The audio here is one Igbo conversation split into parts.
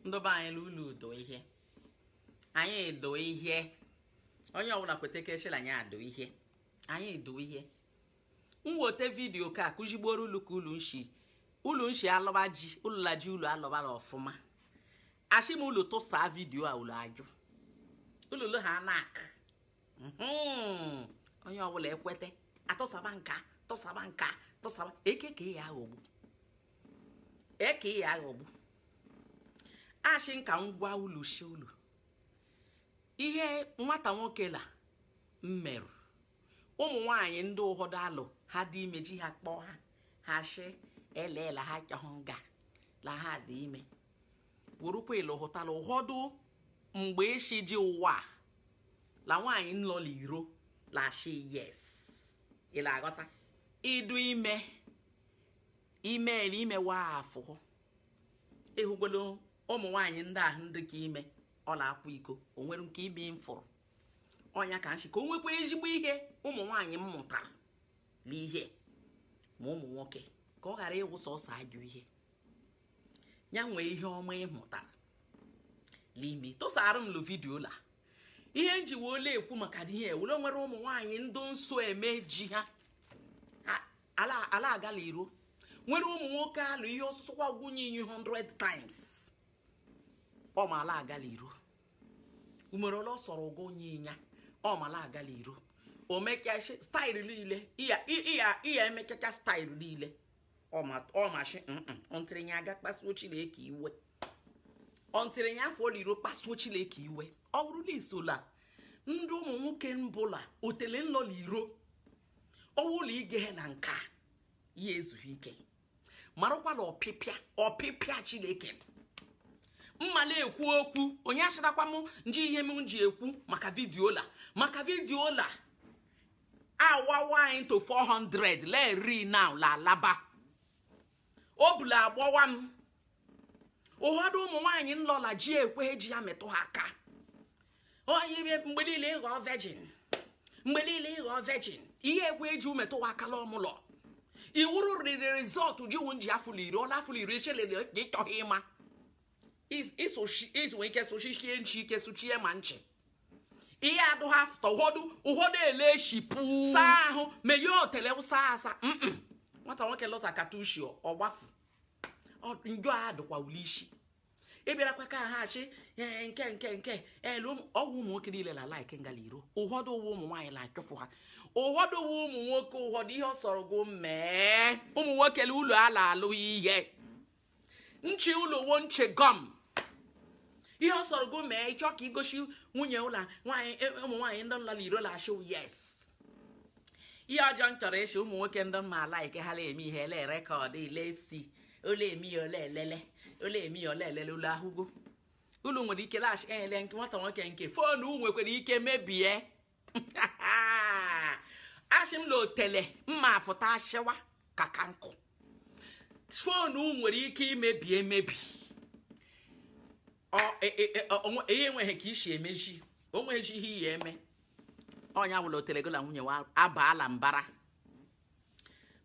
ndọba anyị la ulu dụ ihe anyị dụ ihe onye ọbụla kwete ka eshi la anyị adụ ihe anyị dụ ihe m weta vidiyo ka akụzigboro ulu ka ulu nshi ulu nshi alọba ji ulu la ji ulu alọba la ọfụma ashị m ulu tụsa vidiyo a ulu ajụ ulu lụ ha nak mhm. onye ọbụla ekwete atụsaba nka tụsaba nka tụsaba ekeke ya aghọgbu ee ka ị ya aghọgbu ashị nka ngwa ulu shi ulu ihe nwata nwoke la mmerụ ụmụ nwanyị ndị ụfọdụ alụ ha dị ime ji ha kpọọ ha ha shi eleela ha chọhụ nga la ha dị ime wụrụkwa ịlụ hụtala ụfọdụ mgbe eshi ji ụwa la nwaanyị nlọla iro la shi yes ị la-aghọta ịdụ ime imeela imewa afọ ịhụgolo ụmụ nwaanyị ndị ahụ ndị ka ime ọ la-akwa iko o nwere nke ime mfụrụ ọnya ka nshi ka o nwekwa ezigbo ihe ụmụ nwaanyị m mụtara n'ihe ma ụmụ nwoke ka ọ ghara ịwụ sọsọ ajọ ihe ya nwee ihe ọma ị mụtara n'ime tụsara m lụ vidiyo la ihe nji wee ọ la-ekwu maka ihe wụ la e nwere ụmụ nwaanyị ndị nso eme ji ha ala ala aga la iro nwere ụmụ nwoke alụ ihe ọsụsụ kwa gwunye inyi 100 times ọ ma ala aga la iro umere ole ọ sọrọ ụgwọ onye ịnya ọ ma ala aga la iro o mekecha staịlụ niile iya iya iya emekecha staịlụ niile ọ ma ọ ma shi ntịrị nya aga kpasuo chineke iwe ntịrị nya afụ iro kpasuo chineke iwe ọ wụrụ la i so la ndị ụmụ nwoke mbụla otele nlọla iro ọ wụ la ige na nke a ya ezughị ike marakwa la ọpịpịa ọpịpịa chineke mma la-ekwu okwu onye asịrakwa m nji ihe m ji ekwu maka vidiyo la maka vidiyo la awawa into 400 lee ri now la alaba obu la-agbawa m ụfọdụ ụmụ nwaanyị nlọla ji ekwehe ji ya metụ ha aka onye ime mgbe niile ịghọ virgin mgbe niile ịghọ virgin ihe ekwe ji metụ ha aka la ọmụlọ iwuru riri rizọtụ ji wụ nji afụlụ iri ọla afụlụ iri echelele gị chọghị ịma ịsụchi ike sụchichie nchi ike sụchie ma nchi ihe adụ ha fụta ụfọdụ ụfọdụ ele shipụ saa ahụ meghe otele ụsa asa nwata nwoke lọta katushi ọgbafu njọ a dụkwa ule isi ị bịarakwa ka ha achị ee nke nke nke elu ọgwụ ụmụ nwoke niile la laik ngala iro ụfọdụ ụwa ụmụ nwaanyị la achụfụ ha ụfọdụ ụwa ụmụ nwoke ụfọdụ ihe ọ sọrọ gụ mee ụmụ nwoke la ụlọ ala alụ ihe nchi ụlọ wo nchi gọm ihe ọ sọrọ gụ mee ịchọ ka igosi nwunye ụlọ nwaanyị e, ụmụ nwaanyị ndị nọ la iro la ashị yes ihe ọjọọ m chọrọ ịshị ụmụ nwoke ndị mma laik ha la eme ihe ele rekọd ilesi o le eme ya o le elele o le eme ya o le elele ụlọ ahụgo ụlọ nwere ike laghachi ele nke nwata nwoke nke foonu nwekwara ike mebie ashị m la otele mma afụta ashịwa ka ka nkụ foonu nwere ike imebi emebi e, e, e, ihe enweghị ka isi emeji onweghị ihe iyi eme ọnya wụla otele gola nwunye wa abaala mbara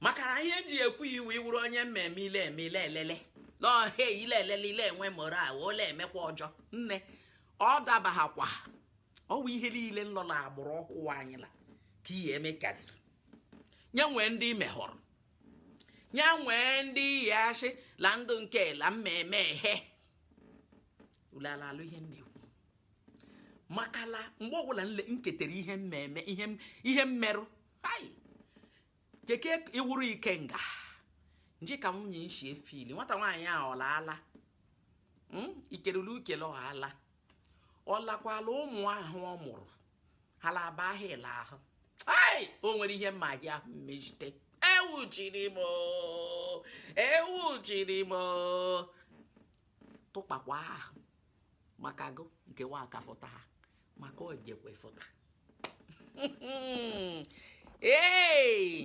maka na ihe m ji ekwu iwu ị wụrụ onye mmemme i le eme i le elele n'ọhịa i le elele i le enwe moral ole emekwa ọjọ nne ọ dabaghakwa ọ wụ ihe niile nọ la agbụrụ ọhụụ anyị la ka ihe eme kasị nye nwee ndị i mehọrọ nye nwee ndị ị ya ashị la ndo nke la mmemme ehe ulelalụ ihe m na-ekwu makala mgbe ọbụla nle- m ketere ihe mmemme ihe m- ihe mmerụ hai keke iwuru ike nga nji ka nwunye nshi efili nwata nwaanyị a ọlaala hmm? ikelele ukele ọhala ọ lakwala ụmụ ahụ ọ mụrụ hala aba ahụ ele ahụ ai o nwere ihe mma ahịa ahụ mmejite ewu jiri m ewu jiri m tụkpakwa ahụ maka gụ nke nwa akafọta ha maka ojekwa ịfụta ee